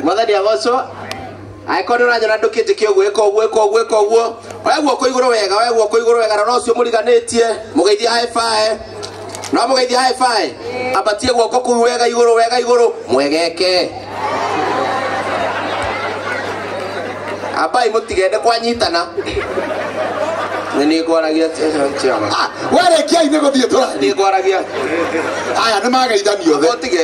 mwathani agocwo angĩkorwo nĩ ũranyona ndũkĩnjĩke ũguo ĩka ũguo ĩka ũguo ĩka ũguo oya guoko igũrũ wega oya guoko igũrũ wega rora ũcio mũriganĩtie mũgeithie haĩbae no mũgeithie haĩbae ambatie guoko kũu wega igũrũ wega igũrũ mwegeke ambai mũtigende kwanyitana nĩ nĩ ngwaragia warĩkiai nĩ gũthiĩ tũrathiĩ nĩ ngwaragia aya nĩ mageithani othe ũtige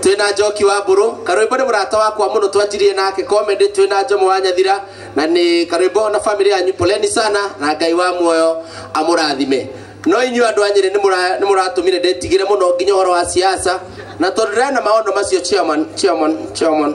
twina njoki wa mburu karwimbo ni murata wakwa muno twanjirie nake comedy twina njomo wa nyathira na ni karwimbo na family yanyu poleni sana na ngai wa muoyo amurathime no inyu andu anyire ni muratumire ndetigire muno nginya horo wa siasa na tondu ndira na maondo macio chairman chairman chairman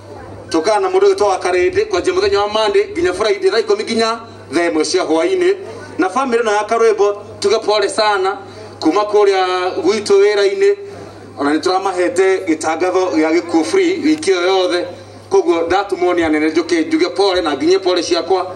tũkana na mũndũ ũgĩtwa wa karĩndĩ kwanjia mũthenya wa mande nginya friday thaa ikũmi nginya thaa ĩmwe cia hwainĩ na bamĩrĩ na akarwĩmbo tuge pole sana kuma kũrĩa gwitũ wĩra-inĩ ona nĩ tũramahete gĩtangatho gĩa gĩkuũ free wiki ĩyo yothe koguo ndatumwo nĩ anene njũke njuge pole na nginyie pole ciakwa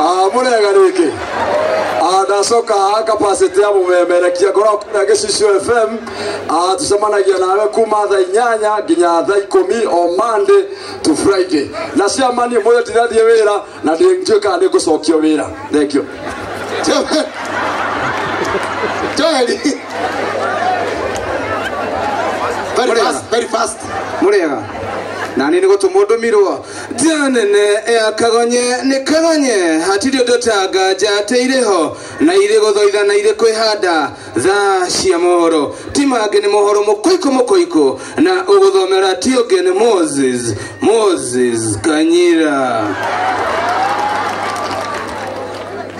Ah, mũrega rĩngĩ Ah, ndacoka haha capacity ya mũmemerekia ngoragwo kũrĩa gĩcicio fm Ah, tũcemanagia nawe kuma tha inyanya nginya tha ikũmi o monday to friday na ciama niĩ mũthĩ ndirathiĩ wĩra na ndiũĩ kana nĩ ngũcokio wĩra thengio Joeli. Very fast, very fast. mũrega na niĩ nĩ gũtũmwo ndũmirwo Janene ya kagonye nĩ kagonye hatirĩ ũndũ ta nganja atĩ irĩ ho na irĩ gũthoitha na irĩ kwĩhanda thaa cia mohoro ti mangĩ nĩ mohoro mũkũikũ mũkũikũ na ũgũthomera ti ũngĩ nĩ Moses Moses Kanyira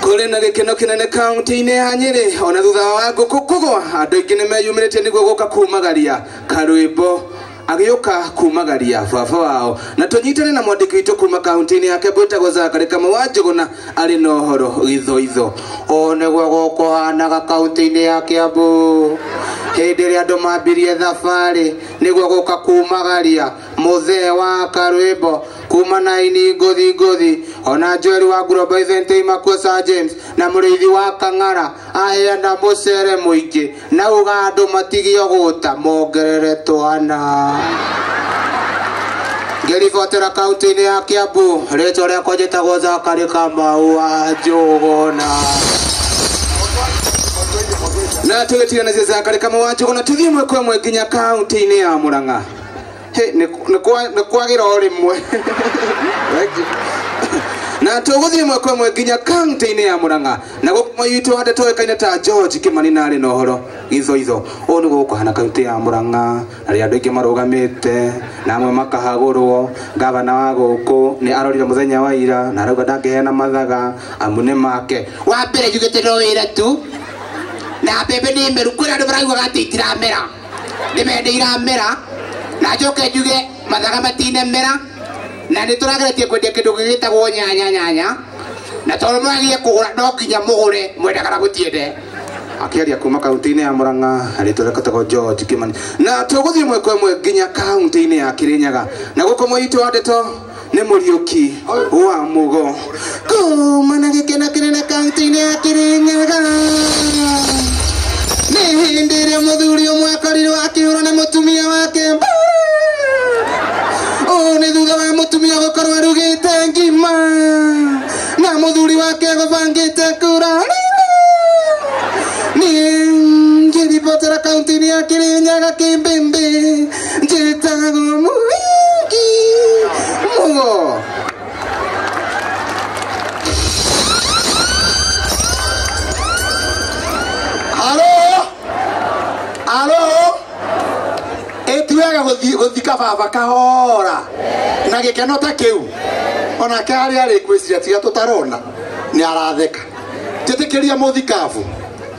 kũrĩ na gĩkeno kĩnene kaunti-inĩ ya Nyĩrĩ ona thutha wa ngũkũ kũgwa andũ aingĩ nĩ meyumĩrĩtie nĩguo gũka kumagaria karwĩmbo agĩũka kumagaria baba wao na tũnyitane na mwandĩki witũ kuma kaunti-inĩ yake gwĩtagwo zakari kamwe wa njũgũna arĩ na ũhoro gĩthoitho ũũ nĩguo gũkũhanaga kaunti-inĩ ya kĩambu hĩndĩ ĩrĩa andũ mambirie thabarĩ nĩguo gũka kumagaria mũthee wa karwĩmbo kuma na ini ngũthi ngũthi ona njoeri wa nguromba ithentei makuo Sir James na mũrĩithi wa kang'ara aheana mũcere mũingĩ Na ũgando matige ũgũta mongerere twana. Ngĩribotera kaunti-inĩ ya Kiambu, rĩtwa rĩakwa njĩtagwo Zakari Kamau wa Njũgũna. Na tũgĩtiganĩria Zakari Kamau wa Njũgũna tũthiĩ ĩmwe kwa ĩmwe nginya kaunti-inĩ ya Mũrang'a. Hey, nĩ nĩ kwa- nĩ kwagĩra o rĩmwe Thank you. na tũgũthiĩ ĩmwe kwa ĩmwe nginya kaunti-inĩ ya mũrang'a na gũkũ mwai witũ hande tũĩkaine ta george kĩmani na arĩ na ũhoro gĩthoitho ũũ nĩ gũkũ hana kaunti ya mũrang'a na rĩrĩa andũ aingĩ marũgamĩte na amwe makahagũrwo gavana wa gũkũ nĩ arorire mũthenya wa ira na arauga ndangĩheana mathaga amu nĩ make wa mbere njugĩte no wĩre tu na mbembe nĩ meru kwĩna andũ maraguaga atĩ itiramera nä mende iramera na njoke njuge mathaga matine mera na nä tå rageretie kwendia kä ndå gä gä tagwo nyanya nyanya na tondå mwagie kå gå ra no nginya må gå re mwenda kana gå tiende akiaria kuma kaunti-inĩ ya Murang'a arĩtwa rekotagwo George Kimani na tũgũthiĩ mwekwa ĩmwe nginya kaunti-inĩ ya Kirinyaga na gũkũ mũitũ wa ndeto nĩ mũriũki wa mugo kuma na gĩkeno kĩnene kaunti-inĩ ya kĩrĩnyaga nĩ hĩndĩ ĩrĩa mũthuri ũmwe akorirwo akĩhũrwo nĩ mũtumia wake ũũ nĩ thutha wa mũtumia gũkorwo arugĩte ngima na mũthuri wake gũbangĩte kura ningĩribotera kaunti-inĩ ya kĩrĩnyaga kĩmbĩmbĩ Dzień temu mujki! Muło! Halo? Halo? Ĩtuaga gũthiĩ gũthika baba kahora na gĩkeno ta kĩu onake harĩa arĩ ngwĩciria tiga tũtarona nĩ aratheka njĩtĩkĩria mũthikabu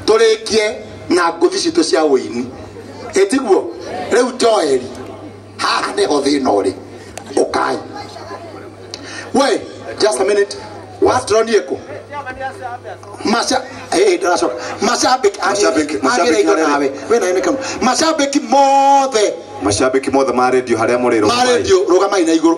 tũrĩkie na ngũthi citũ cia ũini ĩtiguo rĩu joeli haha nĩho thĩna ũrĩ ũkai we just a minute waturonie kũ Masha- eh, ndĩracoka. mashabiki Mashabiki- mashabiki agĩrĩirwo arĩa- nawe wĩ nayo nĩ kanu mashabiki mothe mashabiki mothe ma redio harĩa mũrĩ ma rũgamai. redio rũgamai na igũrũ